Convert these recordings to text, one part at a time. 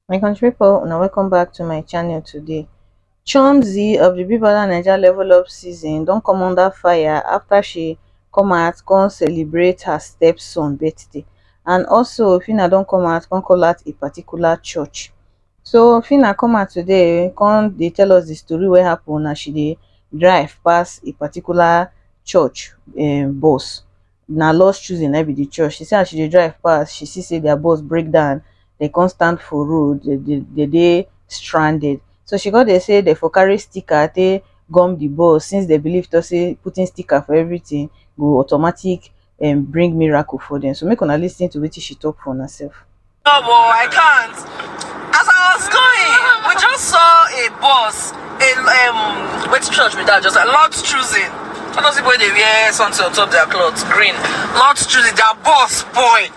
my country people now welcome back to my channel today chomzi of the big brother naija level up season don't come under fire after she come out come celebrate her stepson birthday and also fina don't come out come call out a particular church So Phyna come out today come dey tell us the story wey happen as she dey drive pass a particular church um bus. Na lost children na be the church. She say as she dey drive pass, she see say their bus break down, they come stand for road, they dey they dey stranded. So she come dey say they for carry sticker take gum the bus since they believe talk say putting sticker for everything go automatic um bring miracle for dem. So make una lis ten to wetin she talk for una self. No, but I can't. As I was going, we just saw a bus. A, um, which church with that? Just a lot choosing. All those people they wear something on top their clothes, green. Lot choosing. Their bus boy.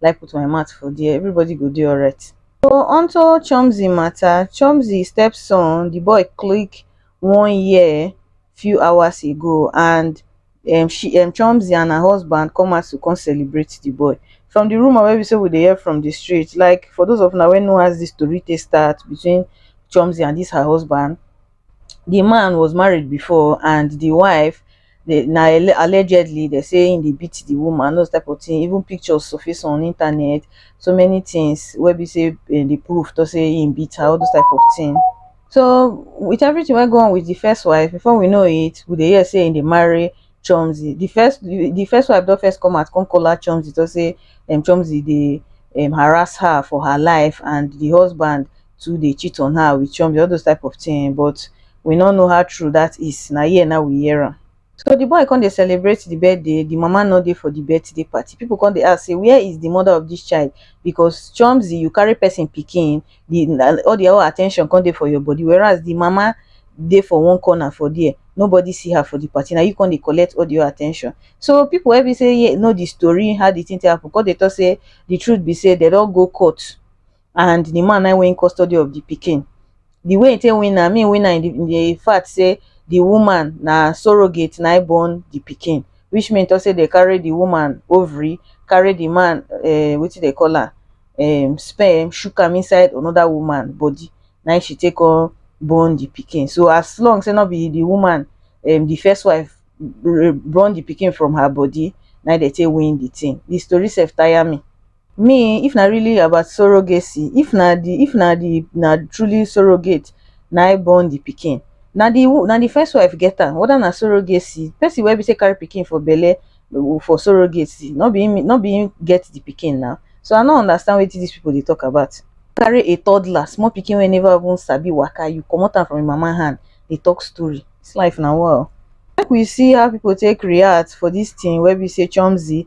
like put my mouth for there everybody go do alright so onto chomzi matter chomzi stepson the boy click one year few hours ago and um, she um, chomzi and her husband come out to come celebrate the boy from the rumor where we say we they hear from the street like for those of now when know as this story they start between chomzi and this her husband di man was married before and di wife na allegedly dem say im dey beat di woman those type of tin even pictures surface on internet so many tins wey be say dem dey prove tok say im beat her all those type of tin so wit everytin wey go on wit di first wife before we know it we dey hear say im dey marry chomzy di first di first wife don first come out come call out chomzy tok say chomzy dey harass her for her life and di husband too dey cheat on her with chomzy, all those type of thing um but we no know how true that is, na here now we hear am. So the boy come dey celebrate the birthday, the mama no dey for the birthday party, people come dey ask say where is the mother of this child because chomzy you carry person pikin, the na all the whole attention come dey for your body whereas the mama dey for one corner for there, nobody see her for the party, na you come dey collect all the whole attention. So people wey be say ye know the story, how the thing take happen come dey talk say the truth be say dem don go court. and the man na win custody of the pikin. The way he take win am, he win am in the fact say the woman na surrogate na born the pikin, which mean to say they carry the woman ovary, carry the man uh, eh, what they call her, um, sperm, shook am inside another woman body. Now she take on born the pikin. So as long say not be the woman, um, the first wife born the pikin from her body, now they take win the thing. The story self tire me. Me if na really about surrogacy, if na di if na di na truly surrogate na im born di pikin, na di na di first wife get am whether na surrogacy, person wey be sey carry pikin for belle for surrogacy nor be im nor be im get di pikin na, so I nor understand wetin dis people dey talk about. Carry a toddler small pikin wey never even sabi waka you komot am from im mama hand dey talk story, dis life na wa o. Make we see how people take react for dis thing wey be sey Chomzy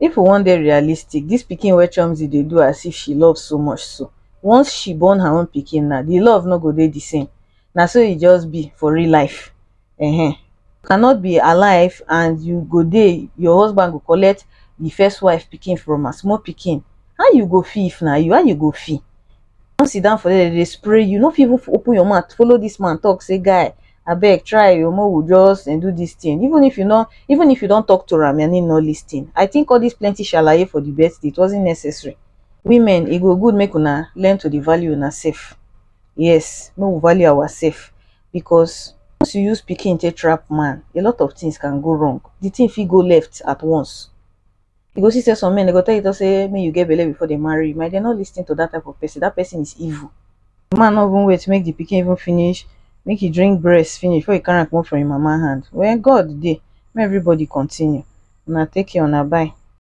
If we wan dey realistic, dis pikin wey Chomzy dey do as if she love so much so, once she born her own pikin na, di love no go dey di same. Na so e just be for real life. Ehe. You cannot be alive and you go dey, your husband go collect di first wife pikin from her, small pikin. How you go feel if na you? How you go feel? don sit down for there dem dey spray you no fit even open your mouth follow this man talk say guy abeg try o make we just eh, do this thing even if you no even if you don talk to am and he no lis ten i think all this plenty shalaye for the birthday it wasn't necessary women e go good make una learn to dey value una sef yes make we value our sef because once you use pikin take trap man a lot of things can go wrong the thing fit go left at once you go see say some men they go tell you to say make you get belle before they marry you my dear no lis ten to that type of person that person is evil the man no even wait make the pikin even finish make he drink breast finish before he carry am comot from him mama hand when god dey make everybody continue una take care una bye